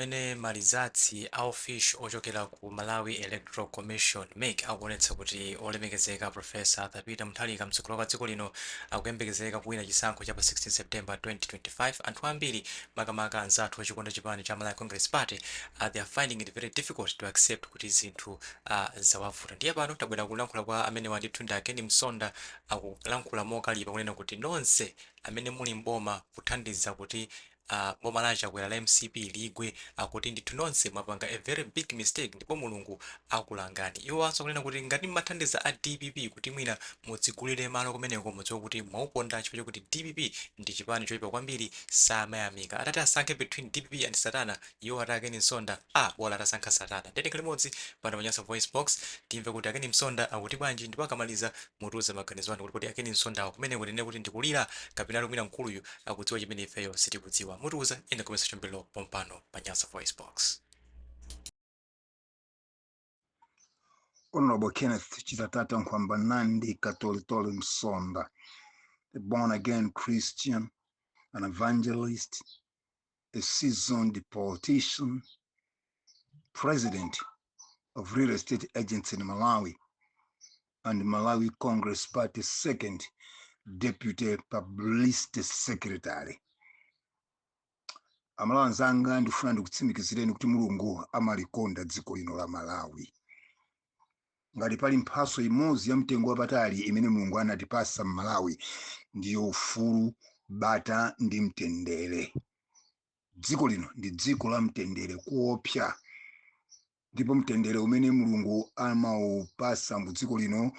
Pamene ma results a unofficial ochokera ku Malawi Electoral Commission, mec, akuonetsa kuti olemekezeka Prof. Arthur Peter Mutharika mtsogoleri wakale wa dziko lino akuyembekezeka kuwina chisankho cha pa 16 September 2025, anthu ambiri makamaka anzathu ochikonda chipani cha Malawi Congress Party they are finding it very difficult to accept kuti zinthu ah zawavuta. Ndiye pano tabwera kulankhula kwa amenewa ndithu ndi a Ken Msonda akulankhula mokalipa kunena kuti nonse amene muli m'boma kuthandiza kuti Aaa boma la a Chakwera la mcp ligwe akuti ndithu nonse mwapanga a very big mistake ndipo mulungu akulangani. Iwo anso akunena kuti ngati mmathandiza a dpp kuti mwina mudzigulire malo kumeneko mudziwe kuti mwauponda chifukwa chokuti dpp ndi chipani choipa kwambiri samayamika. Atati asankhe between dpp and satana Iwo ati a Ken Msonda abola atasankha Satana nde tikhale limodzi pano pa Nyasa Voice Box timve kuti a Ken Msonda akuti bwanji ndipo akamaliza mutiuza maganizo anu kuti kodi a Ken Msondawa kumeneko tinene kuti ndikulira kapenatu mwina mkuluyu akudziwa chimene ifeyo sitikudziwa mutiuza in the comment section below pompano pa Nyasa Voice Box. Honorable Kenneth Chitatata Nkwamba Nandi Katolitoli Msonda, a born again Christian, an evangelist, a seasoned politician, president of real estate agents in Malawi, and Malawi Congress Party second deputy publicity secretary. amalawi anzanga ndifuna ndikutsimikizireni kuti mulungu amalikonda dziko lino la malawi ngati pali mphaso imodzi ya mtengo wapatali imene mulungu anatipasa mmalawi ndiyo ufulu bata ndi mtendere dziko lino ndi dziko la mtendere kuopsa ndipo mtendere umene mulungu amaupasa mu dziko lino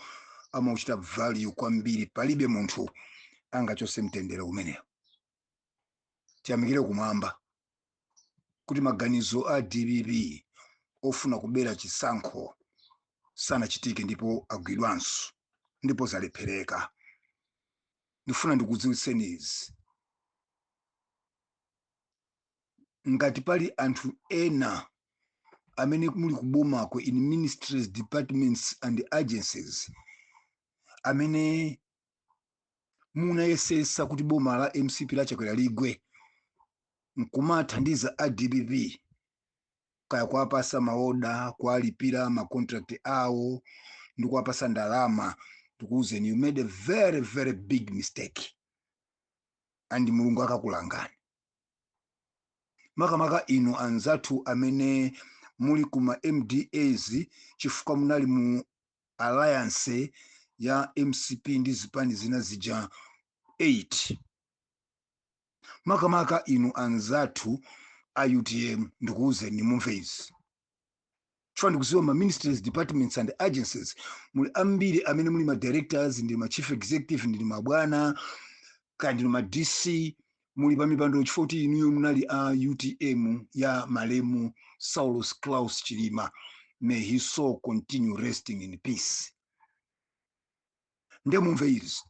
amauchita value kwambiri palibe munthu angachose mtendere umenewo tiyamikire kumwamba kuti maganizo a dpp ofuna kubera chisankho sanachitike ndipo agwidwanso ndipo zalephereka ndifuna ndikudziwitseni izi ngati pali anthu ena amene muli kubomako in ministries departments and agencies amene munayesesa kuti boma la mcp la chakwera ligwe nkumathandiza a dpp kaya kuwapasa maoda kuwalipira macontract awo ndi kuwapasa ndalama ndikuwuzeni you made a very very big mistake and mulungu akakulangani makamaka inu anzathu amene muli kuma mdas chifukwa munali mu alliance ya mcp ndi zipani zina zija 8 makamaka inu anzathu a utm ndikuwuzeni mumve izi chifukwa ndikuziwa ma ministries departments and agencies muli ambiri amene muli ma directors ndi ma chief executive ndi mabwana kaya ndinu ma dc muli pa mipando chifukwa kuti inuyo munali a utm ya malemu saulos klaus chilima may his soul continue resting in peace nde mumve izi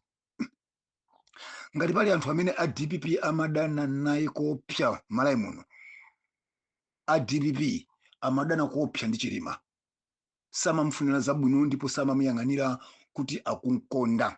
ngati pali anthu amene a dpp amadana naye kopsa malawi muno a dpp amadana kopsa ndi chilima samamfunira zabwino ndipo samamuyang'anira kuti akunkonda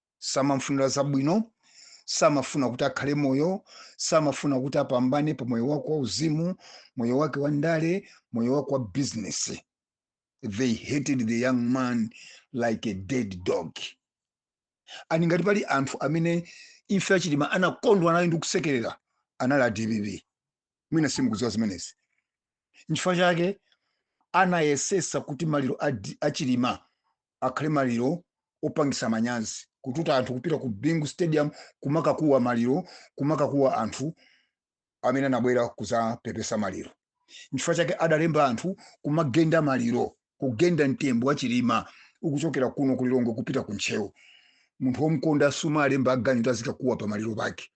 samamfunira zabwino samafuna kuti akhale moyo samafuna kuti apambane pa moyo wake wauzimu moyo wake wa ndale moyo wake wa bizinesi they hated the young man like a dead dog and ngati pali anthu amene imfa ya chilima anakondwa nayo ndi kusekerera anali a dpp mwina simukudziwa zimenezi nchifukwa chake anayesesa kuti maliro a chilima akhale maliro opangisa manyazi kututa anthu kupita ku bingu stadium kumakakuwa maliro kumakakuwa anthu amene anabwera kuzapepesa maliro nchifukwa chake adalemba anthu kumagenda maliro kugenda mtembo wa chilima ukuchokera kuno ku lilongwe kupita ku ntcheu munthu womkonda sumalemba aganyu kuti azikakuwa pa maliro pake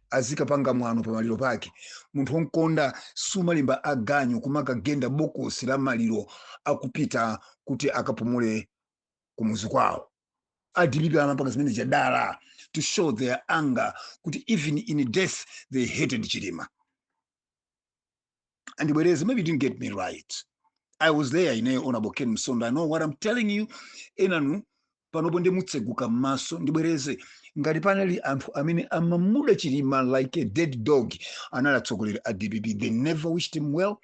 azikapanga mwano pa maliro pake munthu womkonda sumalemba aganyu kumakagenda bokosi la maliro akupita kuti akapumule kumuzi kwawo a dpp amapanga zimene zija dala to show their anger kuti even in death they hated chilima Ndibwereze, maybe you didn't get me right. I was there ine Honorable Ken Msonda. I know what I'm telling you. Enanu, panopo ndi mutseguke m'maso ndibwereze ngati panali anthu amene amamuda chilima like a dead dog anali atsogoleri a dpp they never wished him well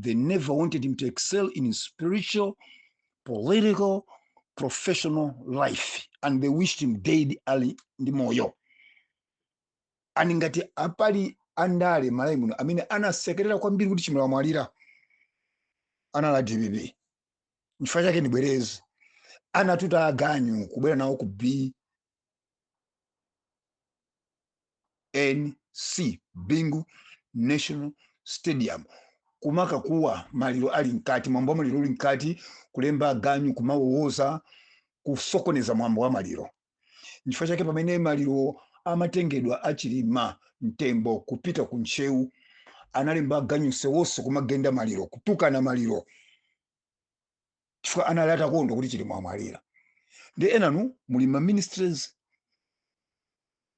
they never wanted him to excel in his spiritual political professional life and they wished him dead ali ndi moyo and ngati pali andale malawi muno amene anasekerera kwambiri kuti chilima wamwalira anali a dpp nchifukwa chake ndibwereze anatuta aganyu kubwera nawo ku b nc bingu national stadium kumakakuwa maliro ali mkati mwambo wa maliro uli mkati kulemba aganyu kumawowoza ndi kusokoneza mwambo wa maliro nchifukwa chake pamene maliro amatengedwa a chilima mtembo kupita ku ntcheu analemba aganyu msewu wonse kumagenda maliro kutukana maliro chifukwa anali atakondwa kuti chilima wamwalira ndiye enanu muli ma ministries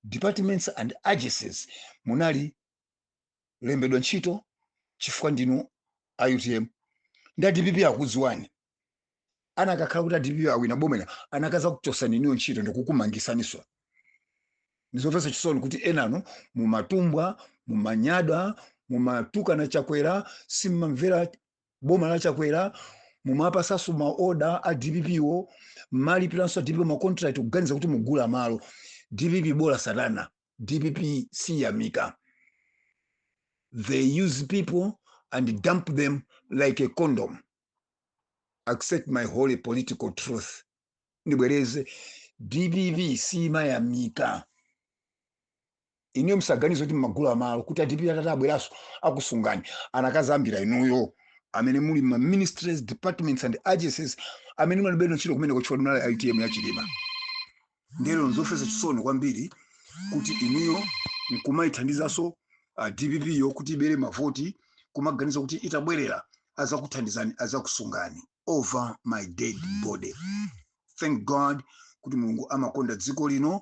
departments and agencies munalembedwa ntchito chifukwa ndinu a utm ndiye a dpp akudziwani anakakhala kuti a dpp awina bomwe anakazakuchosani inuyo ntchito ndikukumangisaniso ndizomvetsa chisoni kuti enanu mumatumbwa mumanyada mumatukana chakwera simmamvera boma la chakwera mumapasaso maoda a dpp wo mmalipiranso a dpp wo macontract kuganiza kuti mugula malo dpp bola satana dpp siyamika they use people and dump them like a condom accept my holy political truth ndibwereze dpp siimayamika inuyo msaganize kuti mmagula malo kuti a dpp atatabweraso akusungani anakazayambira inuyo amene muli m'ma ministries departments and agencies amene mulibeno ntchito kumeneko chifukwa mnali a utm ya chilima ndiye nzomvesa chisoni kwambiri kuti inuyo nkumayithandizanso dpp yo kuti ibere mavoti kumaganiza kuti itabwerera azakuthandizani azakusungani over my dead body thank god kuti mulungu amakonda dziko lino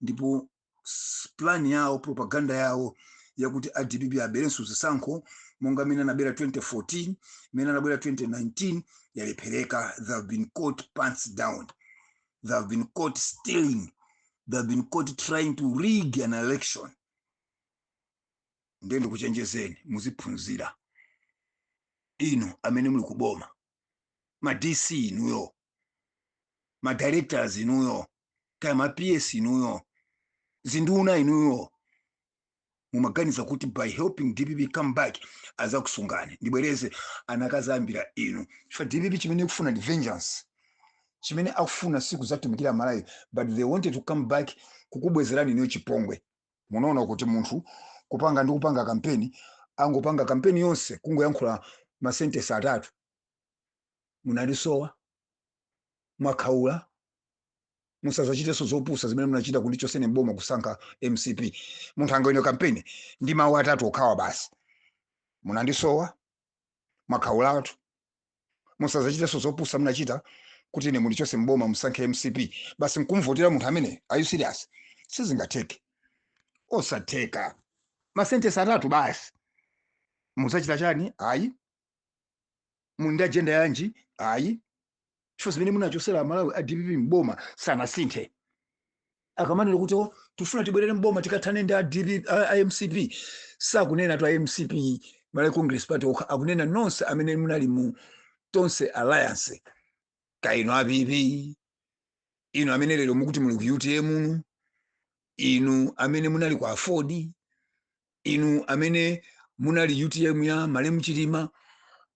ndipo s- plan yawo propaganda yawo yakuti a dpp aberenso zisankho monga mmene anabera 2014 mmene anabera 2019 yalephereka they have been caught pants down They have been caught stealing. They have been caught trying to rig an election. Ndiye ndikuchenjezeni muziphunzira inu amene muli kuboma ma DC inuyo ma directors inuyo kaya ma PS inuyo zinduna inuyo mumaganiza kuti by helping dpp come back azakusungani ndibwereze anakazayambira inu chifukwa dpp chimene ikufuna ndi vengeance chimene akufuna si kuzatumikira malawi but they wanted to come back kukubwezerani inuyo chipongwe munaona kuti munthu kupanga ndi kupanga kampeni angopanga kampeni yonse kungoyankhula masentesi atatu munandisowa mwakhaula musazachitenso zopusa zimene munachita kundichosa ine mboma kusankha mcp munthu angawine kampeni ndi mawu atatu okhawa basi munandisowa mwakhaulatu musazachitenso zopusa munachita kuti ine mundichose mboma musankhe mcp basi nkumvotera munthu amene are you serious sizingatheke osatheka masentesi atatu basi muzachita chani ayi muli ndi ajenda yanji ayi chifukwa zimene munachosera amalawi a dpp mboma sanasinthe akamanena kuti "Oh, tifuna tibwerere mboma tikathane ndi a DP a- a mcp sakunenatu a mcp malawi congress party okha akunena nonse amene munali mu tonse alliance kaya inu a pp inu amene lero mukuti muli ku utm inu inu amene munali ku aford inu amene munali utm ya malemu chilima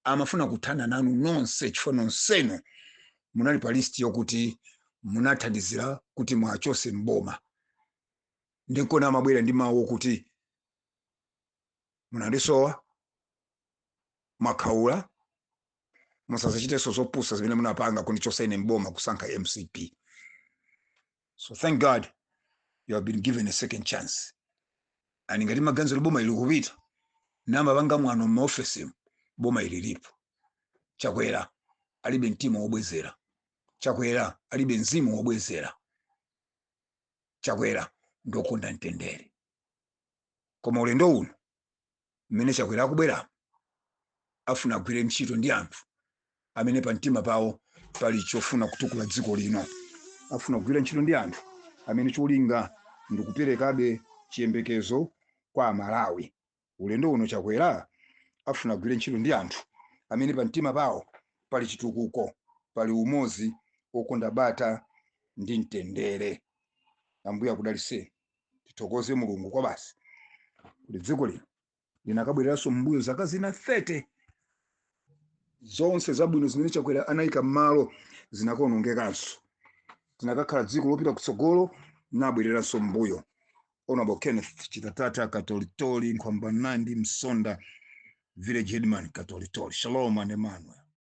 amafuna kuthana nanu nonse chifukwa nonsenu munali pa list yokuti munathandizira kuti mwachotse mboma ndinkona amabwera ndi mawu okuti munandisowa mwakhaula musazachitenso zopusa zimene munapanga kundichosa ine mboma kusankha mcp so thank god you have been given a second chance and ngati mmaganiza boma ili kupita namapanga mwano m'maofesimu boma ili lipo chakwera alibe mtima wobwezera chakwera alibe mzimu wobwezera chakwera ndokonda mtendere koma ulendo uno mmene Chakwera akubwera afuna agwire ntchito ndi anthu amene pa mtima pawo pali chofuna kutukula dziko lino. Afuna kugwira ntchito ndi anthu amene cholinga ndi kuperekabe chiyembekezo kwa Amalawi. Ulendo uno Chakwera afuna agwire ntchito ndi anthu amene pa mtima pawo pali chitukuko, pali umodzi, okonda bata ndi mtendere. Ambuye akudalitseni. tithokoze mulungu kwabasi kuti dziko lino linakabwereranso m'mbuyo zaka zina 30 zonse zabwino zimene chakwera anayika m'malo zinakaonongekanso zinakakhala dziko lopita kutsogolo nabwereranso m'mbuyo honorable kenneth chitatata katolitoli nkhwamba nandi msonda village headman katolitoli shalom and emmanuel